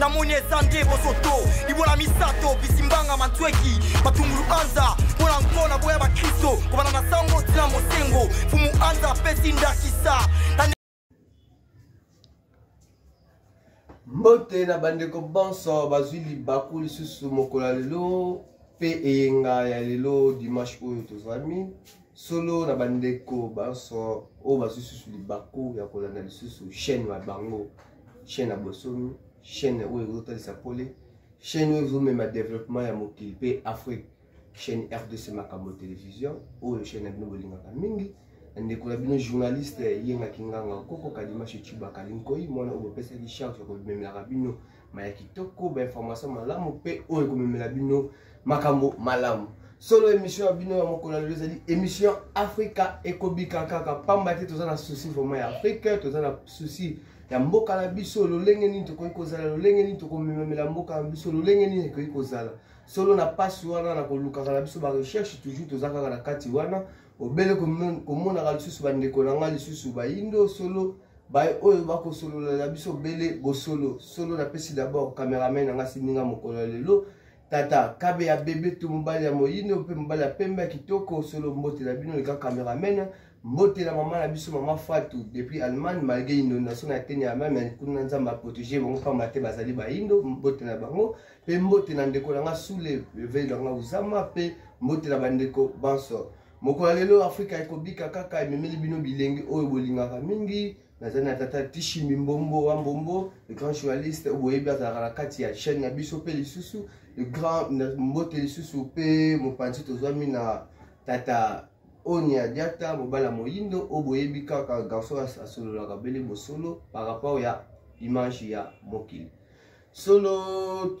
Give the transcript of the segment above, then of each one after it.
namoni eza nde bosoto libola misato bisimbanga mantweki matungulu anza mpo na nko na boya bakristo kobanda na sango tina mosengo fumu anza apesi ndakisa mbote na bandeko banso bazwi libaku lisusu mokolo ya lelo mpe eyenga ya lelo dimanche oyo tozwami solo na bandeko banso oyo bazwi lisusu libaku ya kolanda lisusu chaîne na bango chaîne ya bosomi chaîne oyo ezotalisa pole chaîne oyo ezomema développement ya mokili mpe afrique chaîne rdc makambo télévision oyo chaîne na bino bolingaka mingi ndeko na bino journaliste yenga kinganga koko kadimashe cubaka linkoi mwana oyo bopesaki charge ya komemelaka bino maya kitoko bainformation malamu mpe oyo ekomemela bino makambo malamu solo émission ya bino ya mokolo ya lelo ezali émission afrika ekobika kaka pamba te toza na souci vraiment ya afrika toza na souci ya mboka na biso lolenge nini tokoki kozala lolenge nini tokomemamela mboka na biso lolenge nini ekoki kozala solo na mpasi wana na kolukaka na biso barecherche toujours toza kaka na kati wana obele komonaka lisusu bandeko na ngai lisusu bayindo solo baye oyo bakosolola na biso obele bosolo solo napesi dabord cameraman na ngai siminga mokolo ya lelo tata kabe ya bebe to mobali ya moyindo mpe mobali ya pembe ya kitoko solo mbote na bino leka cameraman mbote na mama na biso mama fatu depuis allemagne malgré inondation na eteni ya allemagne mais kuna nzambe aprotege bango mpamba te bazali bayindo mbote na bango mpe mbote na ndeko na nga sule levei na nga uzama mpe mbote na bandeko banso mokolo ya lelo afrika ekobika kaka ememeli bino bilengi oyo bolingaka mingi nazali na tata tishi mimbombo wa mbombo le grand journaliste boyebi azalaka na kati ya chaîne na biso mpe lisusu le grand mbote lisusu mpe mopanzi tozwami na tata oni ya diata mobala moyindo oyo boyebi kaka garçon asololaka bele bosolo par rapport ya image ya mokili solo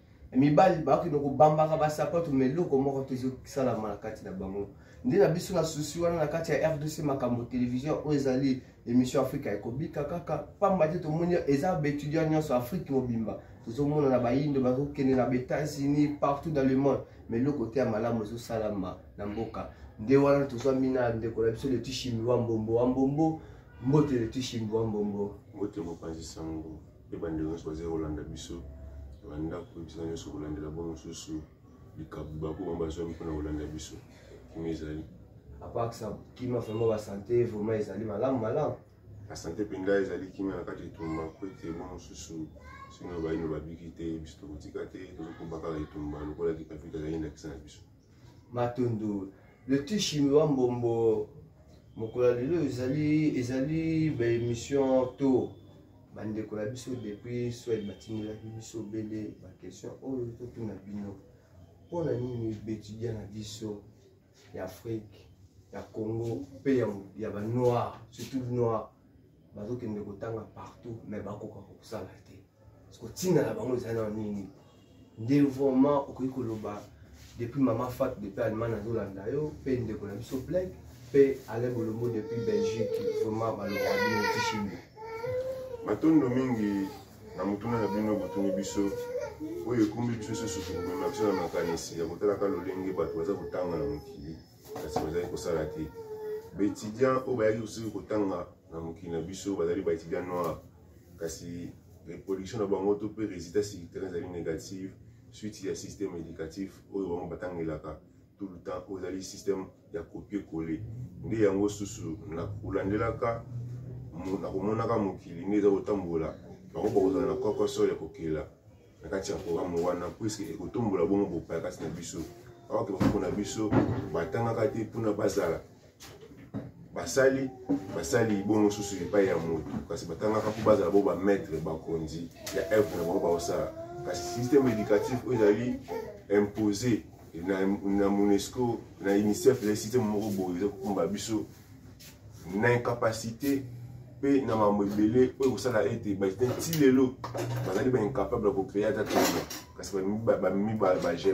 mibali bakende kobambaka basapato ma eloko moko te ezosalama na kati na bango nde na biso na susi wana na kati ya rdc makambo télévision oyo ezali émission afrika ekobika kaka pamba te tomoni eza baétudiant nyonso afrique mobimba tozomona na bayindo bazokende na baétats-unis partout dans le monde ma eloko te ya malamu ezosalama na mboka nde wana tozwami na ndeko na biso letishimi wa mbombo wa mbombo mbote letishimi wa mbombo mbote mopanzi sango mpe bandeko nyonso bazali kolanda biso na bandako bisika nyonso kolandela bango mosusu likabo bakoma bazwami mpona kolanda biso kimi ezali apakisa kima vraimen basante vraimen ezali malamu malamu basante mpenza ezali kimia na kati etumba mpo ete bango mosusu sino bayino babiki te biso tokotika te tozokoba kaka etumba lokola kipapita ezali ndakisa na biso matundu le tishi wa mbombo mokolo ya lelo ezali ezali baémission to bandeko na biso depuis swed batindelaki biso obele baquestion oyo totuna bino mpo na nini betudia na biso ya afrike ya congo mpe ya banoir surtout noir bazokende kotanga partout mais bakoka kosala te kotinda na bango eza na nini nde vraiment okoki koloba depuis mama fat depuis allemagne azolanda yo mpe ndeko na biso black mpe alain bolombo depuis belgique vraiment baloba bino tishimbo matondo mingi na motuna na bino botuni biso oyo ekumbi biso susu komema biso na makanisi ya kotalaka lolenge bato baza kotanga na mokili kasi bazali kosala te baetudiant oyo bayaki kosuki kotanga na mokili na biso bazali baetudiant noir kasi reproduction na bango to mpe résultat sur terrain ezali négative suite ya système éducatif oyo bango batangelaka tout le temps oyo ezali système ya copie colle nde yango susu na kolandelaka na komonaka mokili nde eza kotambola bango bakozala na kokosol ya kokela na kati ya programme wana puiske ekotombola bongo bopaya kati na biso aoke bakoko na biso batangaka te mpona bazala basali basali bongo mosusu epai ya moto kasi batangaka mpo bazala bo bamaitre bakonzi ya evre na bango baosala kasi système éducatif oyo ezali impose na, na monesco na unicef ezali système moko boye eza kokumba biso na incapacité mpe na mambo ebele oyo ekosala ete baetudiant nti lelo bazali baincapable ya kocreye ata toma kasi bamemi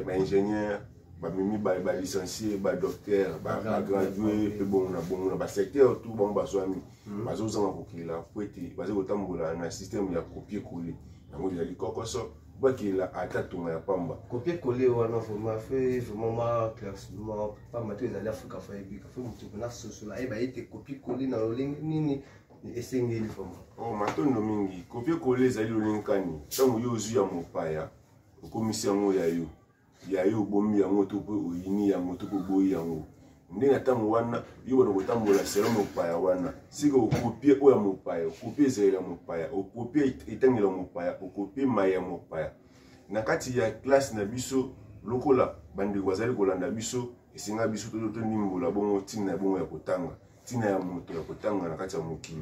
baingénieur bamemi balicencie badocteur bagradué mpe bongo na bongo na basecteur tout bango bazwami hmm. bazozanga kokela mpo ete bazali kotambola na système ya copie colle yango ezali kokoso bakila ata tonga ya pamba kopie kole wana vraimen fe vraimen ma classement pamba to ezali afrika fo ayebika fo moto mpona sosola ayeba ye te kopie kole na lolenge nini esengeli vraimen o oh, matondo mingi kopie kole ezali lolenge kani ntango yo ozwi ya mopaya okomisi yango ya yo ya yo obomi yango to mpe oyini yango to mpe oboyi yango nde na ntango wana yo bana kotambola selo mopaya wana sika okopie oyo ya mopaya okopie ezali ya mopaya okopie etangelo ya mopaya okopie mai ya mopaya na kati ya klase na biso lokola bandeko bazali kolanda biso esenga biso tondimbola bongo ntina ya bongo ya kotanga ntina ya moto ya kotanga na kati ya mokili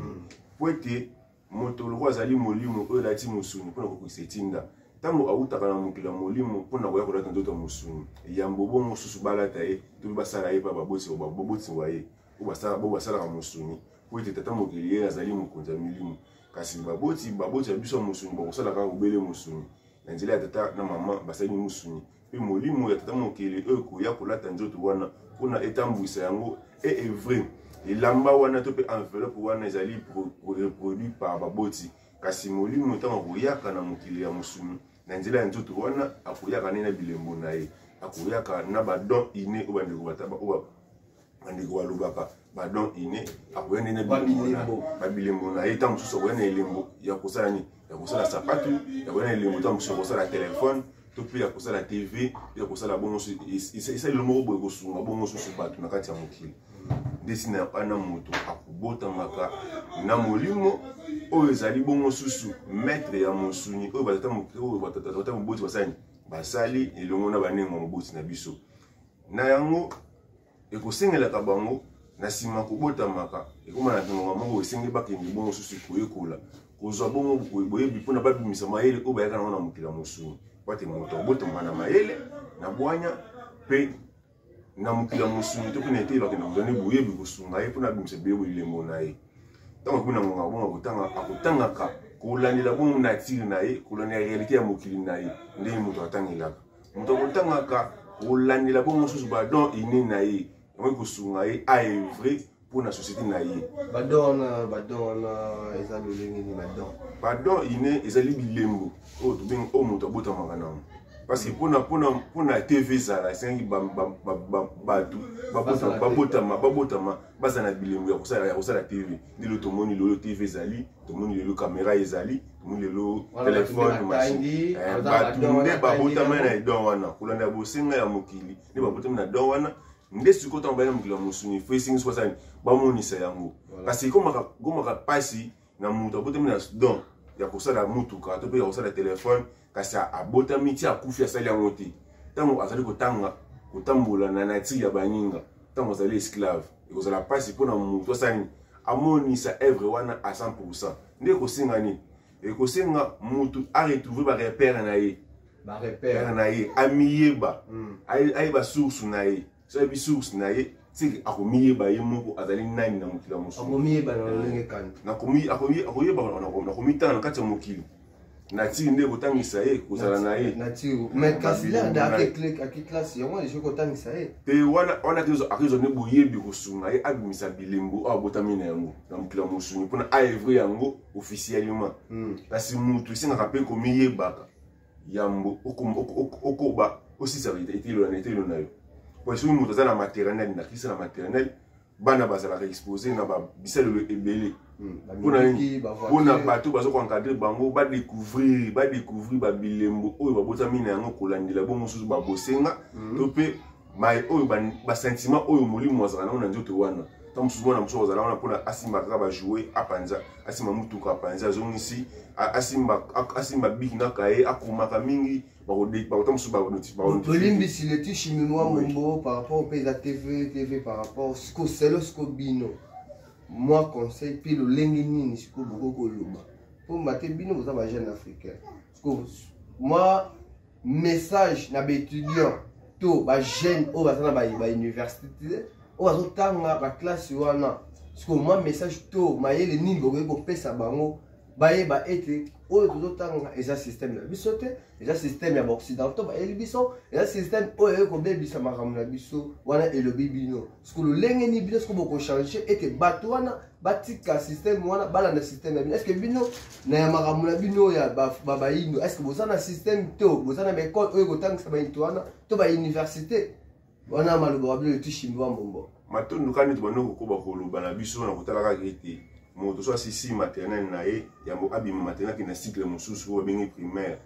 mpo hmm. ete moto lokola azali molimo oyo elati mosuni mpo na kokokisa etinda ntango awutaka na mokili ya molimo mpo na koya kolata nzoto ya mosuni yambo bo mosusu balata ye to mpe basala ye mpa baboti wa ye oyo basalaka mosuni mpo ete tata mokili ye azali mokonzi ya milimo kasi baboti baboti ya biso ya mosuni bakosala kaka obele mosuni na nzela ya tata na mama basali mosuni mpe molimo ya tata mokili oyo ekoya kolata nzoto wana mpo na etambwisa yango e evre elamba wana to mpe enveloppe wana ezali reproduit par baboti kasi molimo ntango akoyaka na mokili ya mosuni na nzela ya nzoto wana akoyaka nde na bilembo na ye akoyaka na badon ine oyo bandeko bataba oyo bandeko balobaka badon ine akoya nde na babilembo na ye ntango mosusu akoya na elembo ya kosala nini ya kosala sapatu ya koya na elembo ntango mosusu ya kosala telefone to mpe ya kosala tv mpe ya kosala bongo esalelo moko boye kosunga bongo susu bato na kati ya mokili nde ntina ya bana moto akobotamaka na molimo oyo ezali bongo susu maitre ya mosuni oyo batata moboti basali basali elongo na banengo moboti na biso na yango ekosengelaka bango na nsima kobotamaka ekoma na ntongonga moko esengeli bakende bongo mosusu koyekola kozwa bongo boyebi mpona babimisa mayele oyo bayaka nango na mokili ya mosuni pate moto abotamaka na mayele na bwanya mpe na mokili ya mosuni to mpe na etei bakenda kozwa nde boyebi kosunga ye mpona abimisa bilembo bilembo na ye ntango akomi na ngonga bongo akotanga akotangaka kolandela bongo natire na ye kolandela realite ya mokili na ye ndenge moto atangelaka moto akotangaka kolandela bongo mosusu badon ine na ye yango ekosunga ye aevre mpo na société na ye badon wana badon wana eza lolenge nini badon badon ine ezali bilembo oyo tobengi oyo moto abotamaka nango parce que mpona mpona mpona tv ezala esengaki bato babotama babotama bazala na bilembo ya kosala ya kosala tv lelo tomoni lelo tv ezali tomoni lelo kamera ezali tomoni lelo telefone machine eh, bato nde babotama na edon wana kolanda ya bosenga ya mokili nde babotami na don wana nde sikoyo ntango bayina mokili ya mosuni fo esengi soki asani bamonisa yango kasi ekomaka mpasi na moto abotami na don ya kosala motuka to mpe ya kosala telefone kasi abotami ti akufi asali yango te ntango azali kotanga kotambola na natire ya baninga ntango azali esclave ekozala mpasi mpo na moto asani amonisa evre wana a 100 nde ekosenga nini ekosenga moto aretrouve barepere na ye barepere na ye amiyeba hmm. ayeba source na ye so ayebi source na ye seke akomiyeba ye moko azali nani na mokili ya mosusuakomitanga na kati ya mokili natiki nde kotangisa ye kozala na ye mpe wana akozwa nde boyebi kosunga ye abimisa bilembo oyo abotami na yango na mokili ya mosuni mpona aevre yango officiellement hmm. kasi motu esengaka mpe komiyebaka yambo okoba osisa etilo na etilo na yo po soki moto aza na maternel na kisa na maternel bana bazalaka expose na bisalelo ebele mpona hmm, nini mpona bato baza koencadre bango badécouvrir badécouvrir babilembo oyo babotami na yango kolandela bongo mosusu babosenga hmm. to mpe mai oyo basentiment oyo molimo azala nango na nzoto wana ntango mosusu mwana mosusu azala wana mpona asimba kaka bajoue apanza asimba motuka apanza azongisi asimba biki na kaye akomaka mingi bakotambolimbisi leti chiminoi mombo par rapport mpe eza tv tv par rapport siko selo siko bino mwa conseil mpe lolenge nini siko bokoki koloba mpo mbate bino boza bajeune africain siko mwa message na baétudiant to bajeune oyo baza na bauniversité oyo bazotanga baklasse wana sikoyo mwa message to mayele nini bokoki kopesa bango bayeba ete oyo tozotanga eza systeme na biso te eza systeme ya baoccidentaux bayeli biso eza systeme oyo eyei kobebisa makambo na biso wana elobi bino siko lolenge nini bino siko bokochange ete bato wana batika systeme wana balanda systeme ya bino eske bino na ya makambo na bino ya bayindo eske boza na systeme to boza na baekole oyo ekotangisa bainto wana to bauniversité wana maloba wa bino letishi mbiwa mbombo matondo kani to bando kokoba koloba na biso na kotala kaka ete moto so asisi maternel na ye yango abima maternel akenda cycle mosusu oyo babengi primaire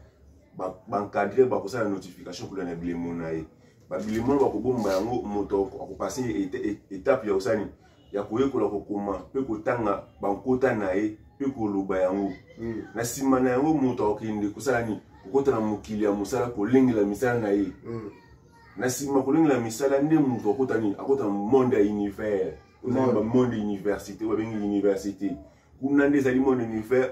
bankadre bakosala notification kolanda bilemo na ye babilimo oyo bakobomba yango moto akopase etape ya kosani ya koyekola kokoma mpe kotanga bankota na ye mpe koloba yango mm. na nsima na yango moto akokende kosala nini kokota na mokili ya mosala kolengela misala na ye mm. na nsima kolengela misala nde moto akota nini akota na monde ya univers oza na bamonde université oyo babengi université kuna nde ezali monde univers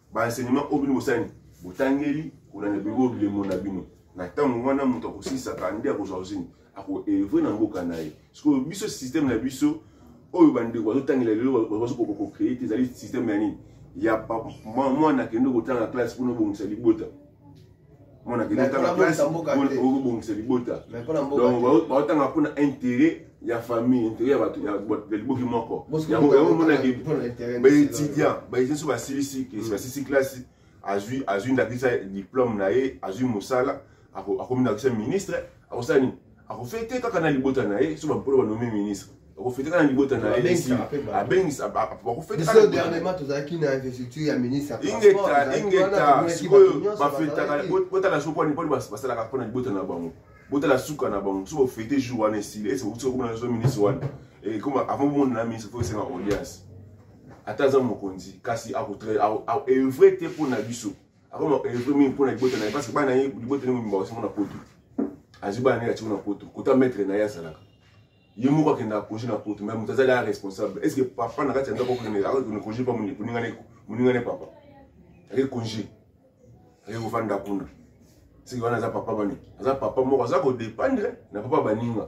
ba enseignement oyo bino bosani botangeli kuna na bino bilemo na bino na ntango wana moto akosilisaka nde akozwa ozini akoevre na mboka na ye sikoyo biso systeme na biso oyo bandeko bazotangela lelo bazokokocree te ezali systeme ya nini ya mwana akende kotanga classe mpona obongisa libota mwana kende otanga classe okobongisa libota donc baotanga mpona intérêt ya famille intérêt ya bato ya liboki moko yango yango omonaki baétudiant baétudiant so basilisi mm. basilisi classe azwi azwi ndakisa diplôme na ye azwi mosala akomi ndakisa ministre akosala nini akofete kaka na libota na ye so bampolo banome ministre akofete kaka na libota na ye abengisa bakofetedernellement tozalaki na investiture ya ministre ingeta ingeta sikoyo bafetaka botala so kwani mponi basalaka mpo na libota na bango botala suka na bango so bofete jour wana esili ese bokuti kokoma na zo ministre wana ekoma avant bomona na ministre fo esenga audience ata aza mokonzi kasi akoevre te mpo na biso akoma elefo mingi mpo na libota na ye parce que bana ye libota nini mobimba basango na poto azwi bana nini atiko na poto kota maître na ye azalaka ye moko akenda akoje na poto mai moto azali a responsable est ce que papa na kati ya ndako akokende akokende konje mpa moninga ne papa ake konje ake kofanda kuna siki wana aza papa bani aza papa moko aza kodependre na papa baninga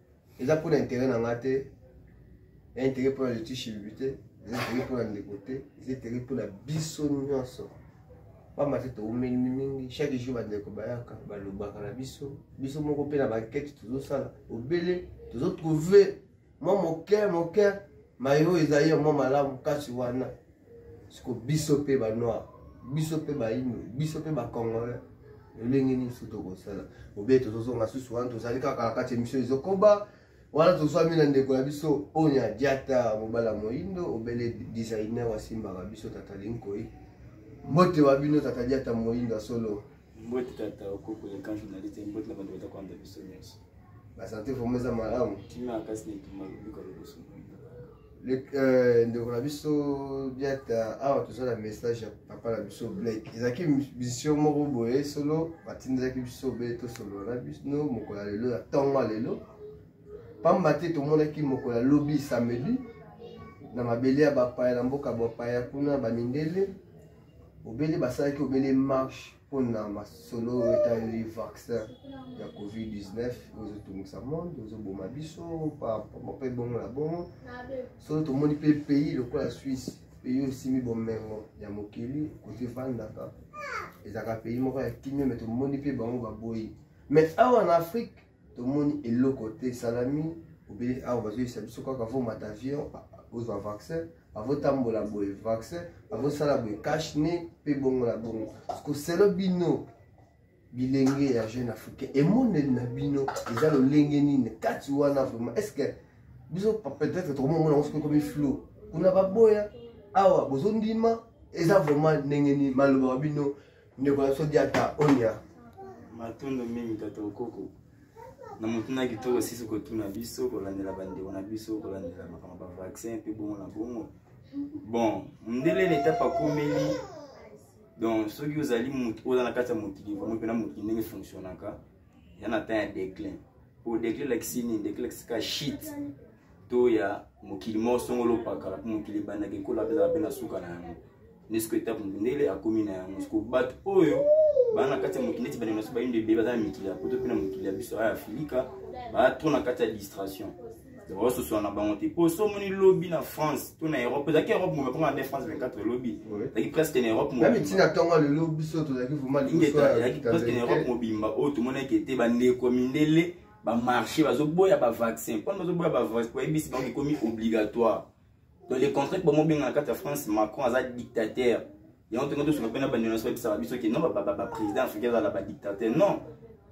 eza mpo na intere na nga te ya intere mpo na leti shilbi te eza intere mpo na ndeko te eza intere mpo na biso nyonso pamba te toumeli mingi chaque jour bandeko bayaka balobaka na biso biso moko mpe na bankete tozosala obele tozotrouve mwa moke moke mayo ezali ya mwa malamu kasi wana siko biso mpe banoir biso mpe baino biso mpe bacongolais lolenge nini so tokosala obe tozozonga susu wana tozali kaka na kati emission ezokoba wana tozwami na ndeko na biso onya diata mobala moindo obele designer asimbaka biso tata linkoi mbote wa bino tata diata moindo ya solo mbote tata okoko ya kan journaliste mbote na bando bata kwanda biso nyonso basante vraimen eza malamu kimia kasi netuma lobiko liboso euh, ndeko na biso biata awa toza na message ya papa na biso blake ezalaki mission moko boye solo batindelaki biso obele tosolola na bino mokolo ya lelo na ntongo ya lelo mpamba te tomonaki mokolo ya lobi samedi na mabele ya bapaya na mboka bapaya kuna bamindele obele basalaki obele marche mpo na masolo etali vaccin ya covid-19 ozotungisa monde ozoboma biso mpe bongo na bongo solo tomoni mpe pays lokola swisse pays osimi bomengo ya mokili kote efandaka ezalaka pays moko ya kimia me tomoni mpe bango baboyi mais awa na afrique tomoni eloko te esalami obele awa bazoyisa biso kaka vomata avion ozwa vaccin avotambola boye vaccin avosala boye cash ne mpe bongo na bongo koselo bino bilenge ya jeune africain emoneli na bino eza lolenge nini kati wana vraiment est ce que biso peut-être tokomomona yango soki ekomi flou kuna baboya awa bozondima eza vraiment ndenge nini maloba wa bino ndeko na biso diata onia matondo mingi tata okoko na motuna kitoko sisi kotuna biso kolandela bandeko na biso kolandela makambo bavaccin mpe bongo na bongo bon mondele na etape akomeli donc soki ozali motu oza na kati ya mokili vraimen mpena mokili ndenge fonctionnaka ya na temps ya déclin po déclin elakisi nini déclin elakisi ka shit to ya mokili moko songolo pakala mpo mokili ebandaki ekola mpe ezala mpe na suka na yango nesko etape mundele akomi na yango siko bato oyo baa na kati ya mokili neti bandeko na biso bayindo ebele baza na mikili ya poto mpe na mokili ya biso aya afilika baa tro na kati ya distration baososola na bango te mpo so omoni lobi na france to na europe ezalaki europe mobe mpona nde france 24 lobi ezalaki presque na europe mobeezalaki presque na europe mobimba oyo tomonaki ete bandeko mindele ba marché bazoboya ba vaccin mpona bazoboya ba vaccin bayebisi bango ekomi obligatoire donc le contraire bango bengana kati ya france macron aza dictateur yango tongo tosuka mpe na bandenosi babisaka biso ke non baprésident africain azala badictateur non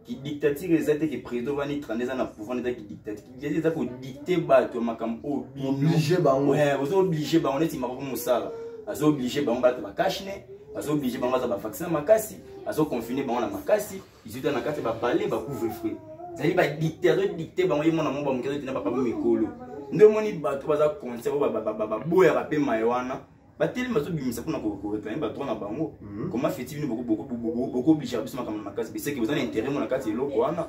kidictature eza te ke président ovandi 30 eza na pouvoir eza kidictature kidictature eza kodicte bato ya makambo oyo oblige bango ozo oblige bango neti makoko mosala azo oblige bango bato bakashne azo oblige bango aza bavaccin makasi azo confine bango na makasi izuta na kati ba palais ba couvre feu zali ba dicter azo dicter bango ye mwana moko bamoki azotina papa bo mikolo nde omoni bato baza conscient oyo baboyaka mpe maye wana batelemi bazobimisa mpona koreklame badroit na bango mhm. koma feti bino bokoobligaka biso makambo na makasi beseke boza na intérêt mo na kati ya eloko wana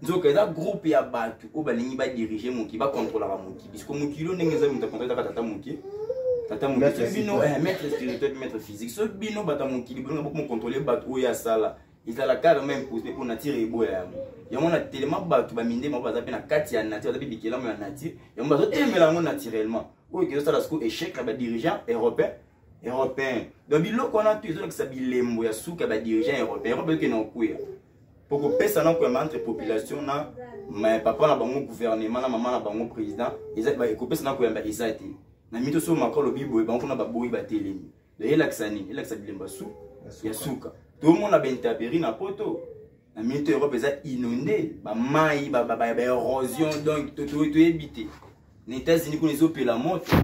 nzoka eza groupe ya bato oyo balingi badirige moki bakontrolaka moki bisko mokili oyo ndenge eza moto akontrole kaka tata moke tata mokili bino eh, maître spirituel maître physique so bino bato ya mokili bolinga bokomokontrole bato oyo asala ezala kaka meme pose mpo nature eboya yango yango na telema bato baminde moko baza mpe na kati ya nature baza mpe bikelamu ya nature yango bazotelemela yango naturellement oyo ekezosala siko échec ya badirigeant européen européen donc biloko wana to ezolakisa bilembo ya suka ya badirigeant européen yango bayoke na okuya mpo kopesa na koyamba entre population na papa na bango gouvernement na mama na bango président ekopesa na koyamba eza te na mito so mako alobi boye bango kuna baboyi batelemi donc elakisa nini elakisa bilemba su ya suka tomona bentaperi na poto na minute europe eza inonde bamai baerosion donc toyebi te na états-unis kuna ezopela moto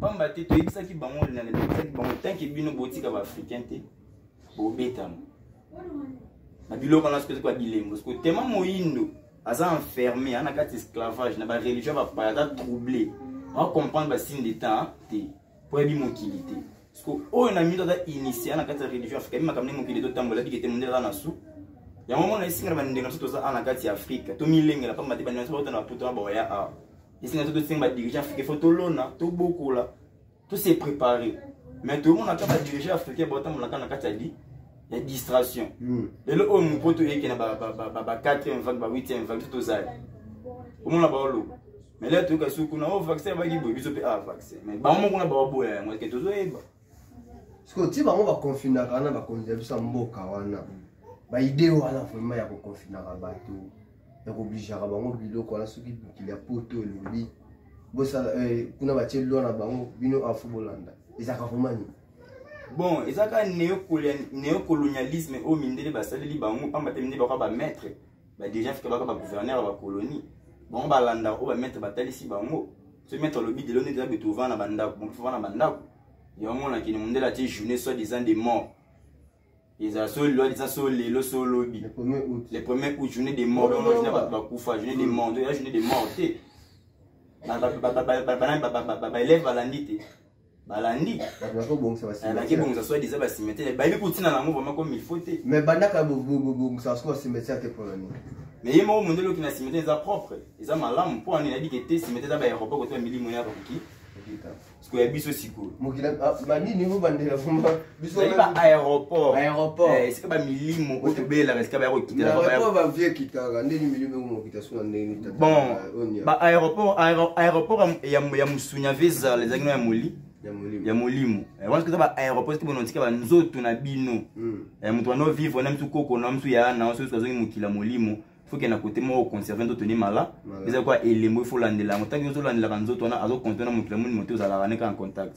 pamba te toyebisaki bango toyebisaki bango tanke bino botika baafricain te bobetama na biloko wana soki ezokwa bilembo siko tema moyindo aza enfermé ana kati esclavage na bareligion bapaya aza trouble acomprendre basigne de temps te mpo yabi mokili te siko oyo na mito aza initia na kati ya religion afrika yabi makambo nde mokili totambola yabi kete mondele aza na su yango mona esinga na bandenge na biso toza a na kati ya afrika tomilengela mpamba te bandenge na biso bauta na baputo na baoya awa esinga biso tosenga badirigent afrika fo tolona tobokola tose prépare mais tomonaka badirigent africain baotambolaka na kati ya li ya distraction hmm. lelo oyo mopoto eyeke na ba 4e vague ba 8e vague tozali omona baoloba mais là toyoka soki kuna o oh, vaccin abaki boye biso mpe a ah, vaccin mais bango moko na bababoya yango eke tozoyeba sikoyo ti bango bakonfinaka wana bakonzi ya biso ya mboka wana baide wana vraimen ya kokonfinaka bato ya koblijaka bango biloko wana soki mokili ya poto elobi bosala eh, kuna batie lwa na bango bino afo bolanda ezalaka vraimen nini bon ezaka neocolonialisme oyo mindele basaleli bango mpamba te mindele bakoka bamaître ba dirigeant africain baka ba gouverneur ya bacolonie bango balanda oyo bamaître batalisi bango so maître alobi lelo nde eza bete ovanda na bandako bango mpe ovanda na bandako yango omona kende mondele atie journée soit disant de mort ezala so lelo eza so lelo so lobi le premier août journée de mort bango journée bato bakufa journée de mort nto eza journée de mort te baelève balandi te balandi bato bakobongisa bakibongisa soit disant bacimetiere bayebi kotina nango vraimen comme il faut te mais bandaka bobongisa soko bacimetiere te mpona nini mais ye moko mondele okina cimetiere eza propre eza malamu mpo ani nayebi ke te cimetiere eza baeropa kotoya milimo yaka koki sikoya biso sikoyo mokila ah, banini obandela vraimen ezali ba aéroport aéroport eh, esika bamilimo oyo tobelelaka esika baya kokitelaekitaka ndenge milimo ekomokita so na ndenge bon baaéroport aéroport ya musunya vesal ezalaki no ya moli ya molimo eh, wana eza baaéroport soki bonotika banzoto na bino hmm. eh, moto wana ovivre na misu koko na misu ya na soki azongi mokili ya molimo soki na kote moko conserve nzoto ne mala eza kwa elembo ifo olandela yango ntango ozolandelaka nzoto wana azokonte na mokili ya molimo te ozalaka neka en contact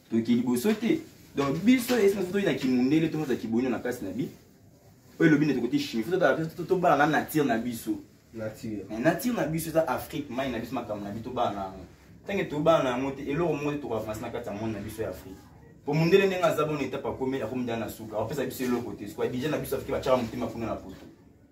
toke liboso te donc biso esina soki toyi na kimundele to moza kiboino na kati na bi oyo elobi nde tokoti chimie fo tobala na nature na biso nature eh, na biso eza afrique mai na biso makambo na biso tobala na yango ntange tobala na yango te eloko moko te tokoavanse na kati ya monde na biso ya afrique po mondele ndenge aza bona etape akomi akomi nda na suka apesa biso eloko te sikoya deja na biso afrike batyaka motema kuna na poto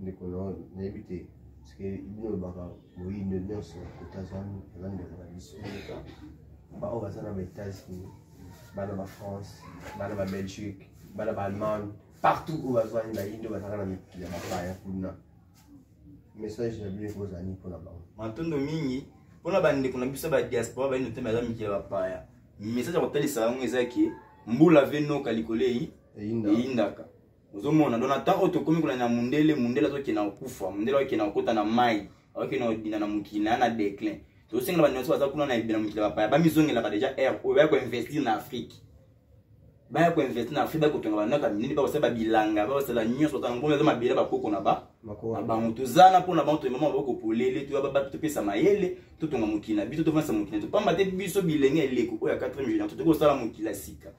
ndeko na nayebi te parceke bino olobaka moyindo nyonso kote azwami aza ndeko na biso baoyo baza na baétats-unis bana ba france bana ba belgique bana ba allemagne partout oyo bazwani bayindo bazalaka na mikili ya bapaya kuna message na bino ekozala nini mpona bango matondo mingi mpona bandeko na biso ba diaspora bayindo te baza mikili ya bapaya message ya kotalisa yango eza ke mbula ve noka likolo eyindaka ozomona donc na temps oyo tokomi kolanda mundele mundele azokenda kokufa mundele akokenda kokota na mai akokenda kodina na mokili na ya na déclin tozosengela banyonso baza kuna na ebele mokili ya bapaya bamizongelaka deja aire oyo baya koinvestir na afrique baya koinvestir na afrique bakotonga banaka minene bakosala babilanga bakosala nyonso kaka ngombe eza mabele bakoko na ba na bango toza na mpona bango toyemama baboko polele topesa mayele totonga mokili na biso tofandisa mokili na biso pamba te biso bilenge eleko oyo ya 4 million totoki kosala mokili ya sika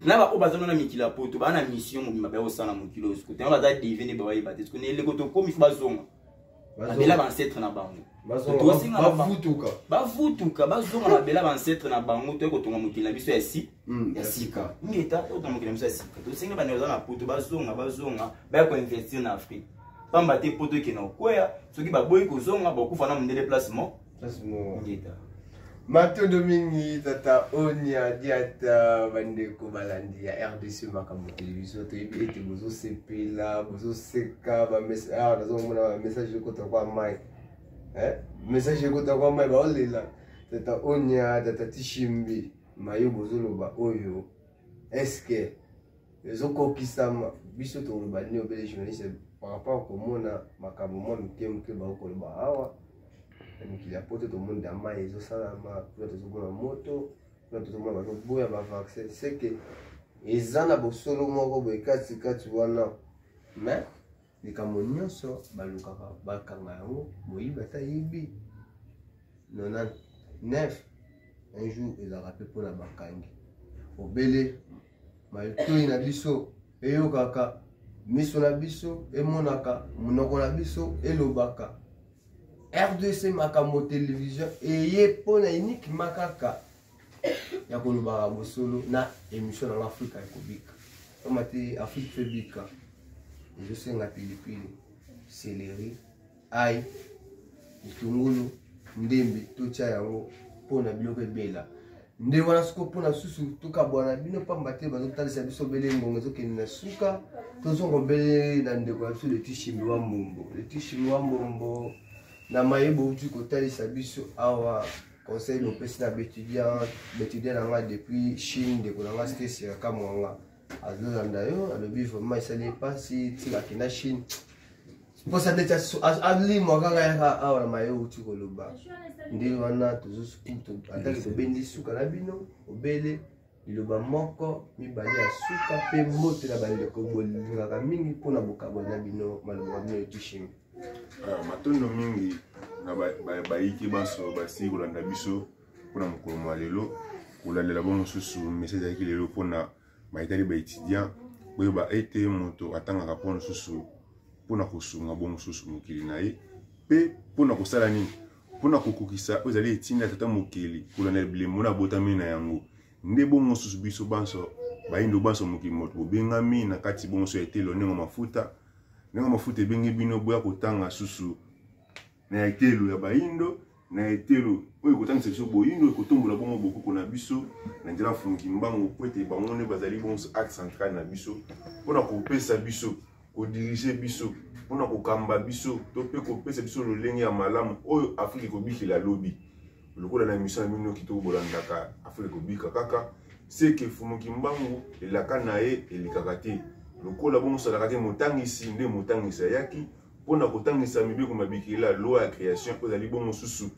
na baoyo baza na mikili ya poto baa na mission mobimba baya kosala na mokili oyo sikoyo baza deve nde bawayeba te sikoyo na eleko tokomi fo bazonga babela baancetre na bango bavutuka bavutuka bazonga babela baancetre na bango toye kotonga mokili na biso ya si hmm, ya sika ngeta totonga mokili na biso ya sika tosengi bana baza na poto bazonga bazonga baya koinvestir na afrique pamba te poto ekenda kokweya soki baboyi kozonga bakufa na mondele place moko ngeta matondo mingi tata onia diata bandeko balandi ya rdc makambo televizio toyebi ete bozosepela bozoseka awa nazomona bamessage ekota kwa mai eh? message ekota kwa mai baolela tata onia tata tishimbi mayo bozoloba oyo eske ezokokisama biso toloba nini obele journaliste par rapport komona makambo mwa mike moke bango koloba awa na mikili ya poto tomoni da mai ezosalama kuna tozomona moto kuna tozomona bazoboya bavaccin seke eza na bosolo moko boye katikati wana mais likambo nyonso balukaka bakanga yango moyibi ata yebi 99 un jour ezalaka mpe mpona bakangi obele matoi na biso eyokaka miso na biso emonaka monoko na biso elobaka rdc makambo televizio eye mpona uniquement kaka ya kolobaka bosolo na émission nanga afrika ekobika pamba te afrika mpe bika ezosenga pilipili seleri ai litungulu ndembe totya yango mpo na biloko ebela nde wana soko mpona susu tokabwana bino mpamba te bazotalisa biso bele ngongo ezokende na suka tozongo bele na ndeko ya biso leti shimi wa mbombo leti shimi wa mbombo na maye bouti kotalisa biso awa conseil nopesi na baetudiant baetudiant na ngai depuis chine ndeko na ngai stesi ya kamwanga azolanda yo alobi vraiment esali ye mpasi tika akenda chine mposa ndeti alimwa kaka yaka awa na maye outi koloba nde wana tozosuku atali tobendi suka na bino obele liloba moko mibale ya suka mpe mbote na bandeko bolingaka mingi mpo na bokabo na bino maloba bino etushimi ah, matondo mingi na bayiki banso basili kolanda biso mpo na mokolo mwa lelo kolandela bo mosusu mesi ezalaki lelo mpo na mayitali baétudiant boyeba ete moto atangaka mpo mosusu mpo na kosunga bo mosusu mokili na ye mpe mpo na kosala nini Mpo na kokokisa oyo ezali etinda tata mokeli kolanda bilembo na abotami na yango, nde bongo susu biso banso bayindo banso mokili moto bobengami na kati bonso ya etelo ndenge mafuta ndenge mafuta ebenge bino boya kotanga susu na etelo ya bayindo na etelo oyo ekotangisa biso boyindo ekotombola bongo bokoko na biso na nzela mfungi mbango mpo ete bango nde bazali bonso axe central na biso mpo na kopesa biso kodirige biso mpo na kokamba biso to mpe kopesa biso lolenge ya malamu oyo afrika ekobikela lobi lokola na emission na bino kitoko bolandaka afrika ekobika kaka seke fumu kimbangu elaka na ye elekaka te lokola bongo osalaka te motangisi nde motangisi ayaki mpo na kotangisa mibeko mabikela loi ya création oyo ezali bongo mosusu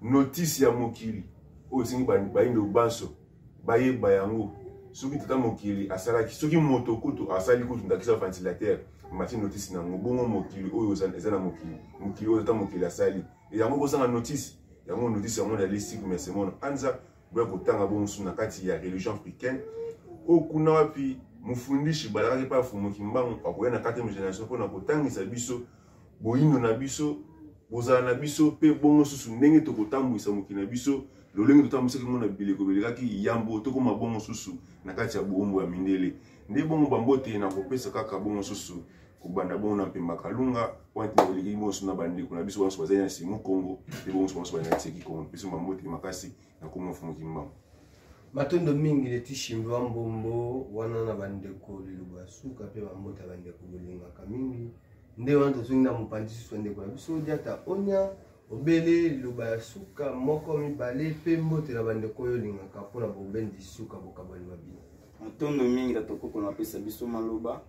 notisi ya mokili oyo esengi bayindo banso bayeba yango soki tata mokili asalaki soki moto kutu asali kutu ndakisa ventilateur mati notisi na yango bongo mokili oyo eza na mokili mokili oyo tata mokili asali e yango kozanga notisi yango notisi yango na listique mais semona anza boya kotanga bo mosusu na kati ya religion africaine oyo kuna wapi mofundishi balakaki mpe afumuki mbangu akoya na 4 génération mpo na kotangisa biso boyindo na biso bozala na biso mpe bongo susu ndenge tokotambwisa mokili na biso lolenge totambwisaki yango na bileko belekaki yambo tokoma bongo susu na kati ya boumbu ya mindele nde bongo bambote na kopesa kaka bongo susu kobanda bongo na mpemba kalunga pointe na eleki bongo susu na bandeko na biso banso bazali na simo kongo mpe bongo susu banso bazali na tseki kongo mpe so bambote makasi nakoma mfumuki mbangu matondo mingi leti shimbi wa mbombo wana na bandeko lilobo ya suka mpe bambota bandeko bolingaka mingi nde wana tozongi na mopanzi susu ya ndeko na biso diata onya obele liloba ya suka moko mibale mpe mbote na bandeko oyo olingaka mpo na bobendi suka bokabwani mabino matondo mingi tatokoko napesa biso maloba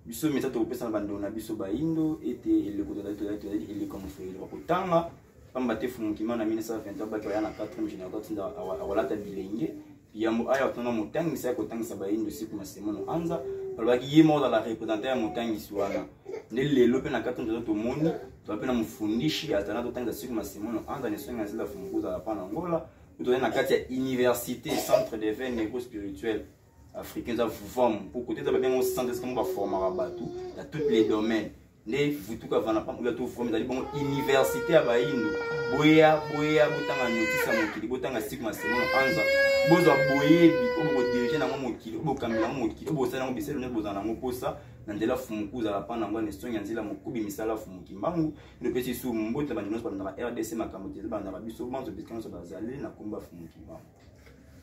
biso mesa tokopesa na bandeko na biso baindo ete eleko tozali eleko mofeli bakotanga mpamba te fumukima na 1920 abaki aya na 4 général atinda akolata bilenge yambo aya otanga motangisi akotangisa baindo siku masemo na anza balobaki ye moko azala representant ya motangisi wana nde lelo mpe na kati nzoto tomoni toza mpe na mofundishi azala totangisa siku masemo na anza na esongi azila fumuku ozala mpa na ngola tozali na kati ya université centre de veine negro spirituel africain eza vuvamu mpo kote eza babengo centre esika mo baformaka bato na toutes les domaines nde vutuka avanda mpampo ya toforme ezali bongo université ya bayindo boya boya botanga notisi ya mokili botanga sik masemono anza bozwa boyebi oyo bokodirige nango mokili oyo bokambi nango mokili oyo bosali yango biselu nde bozala nango mposa na nzela fumuku ozala mpa nango na esongi ya nzela mokubi misala fumu kimbangu nde opesi su mbote na bandeko nyonso balandaka rdc makambo te balandaka biso banso bisika nyonso bazali na komba fumu kimbangu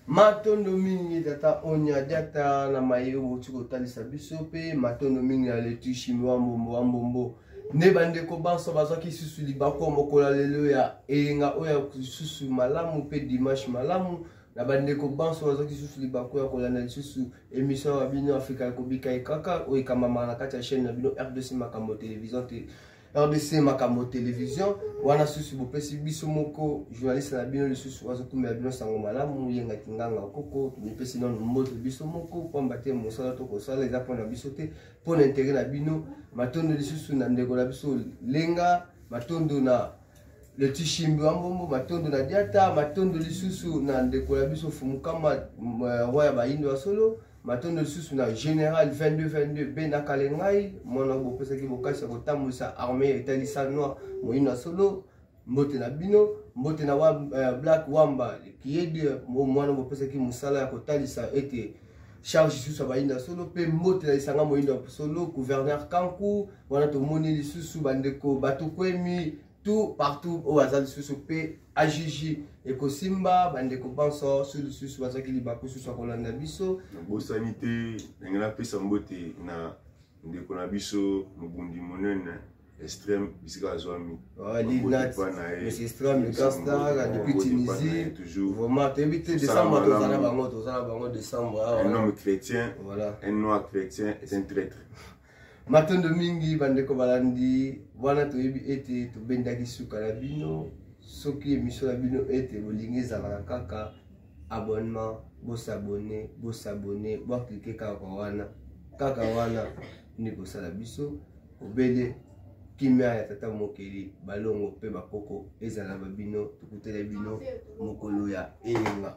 matondo mingi tata onya diata na maye outi kotalisa biso mpe matondo mingi na letushimi wa mbombo wa mbombo nde bandeko banso bazwaki lisusu libako mokolo ya lelo ya eyenga oyo ya lisusu malamu mpe dimanche malamu na bandeko banso bazwaki lisusu libako ya kolanda lisusu emission ya bino afrika ya kobika ekaka oyo ekambamaka na kati ya chaîne na bino rdc makambo television te rdc makambo television wana susu bopesi biso moko journaliste na bino lisusu azokumbela bino sango malamu yenga kinganga koko tomipesi nano mbote biso moko mpamba te mosala tokosala eza mpona biso te mpo na intere na bino matondo lisusu na ndeko na biso lenga matondo na le tishimbi wa mbombo matondo na diata matondo lisusu na ndeko na biso fumukama roi ya bayindo ya solo matondo lisusu na général 2222 be na kale ngai mwana bopesaki bokasi ya kotambwisa armée ya etali sa noir moyino ya solo mbote na bino mbote na wa, uh, black wamba kiyedi mwana bopesaki mosala ya kotalisa ete charge lisusu ya bayinda solo mpe mbote na lisanga moyindo ya solo gouverneur kanku wana tomoni lisusu bandeko batokwemi tout partout oyo aza lisusu mpe ajiji ekosimba bandeko banso so lisusu bazwaki libaku susu akolanda biso nabosani te ndenge napesa mbote na ndeko na biso mobundi monene extrême bisika azwami ah, toyebi chrétien un noir chrétien est un traître matondo mingi bandeko balandi wana toyebi ete tobendaki suka na bino soki emisio na bino ete bolingi ezalaka kaka abonnement bosabone bosabone boaklike kaka wana kaka wana nde kosala biso obele kimia ya tata mokeli balongo mpe bakoko ezala babino tokutele bino mokolo ya eyenga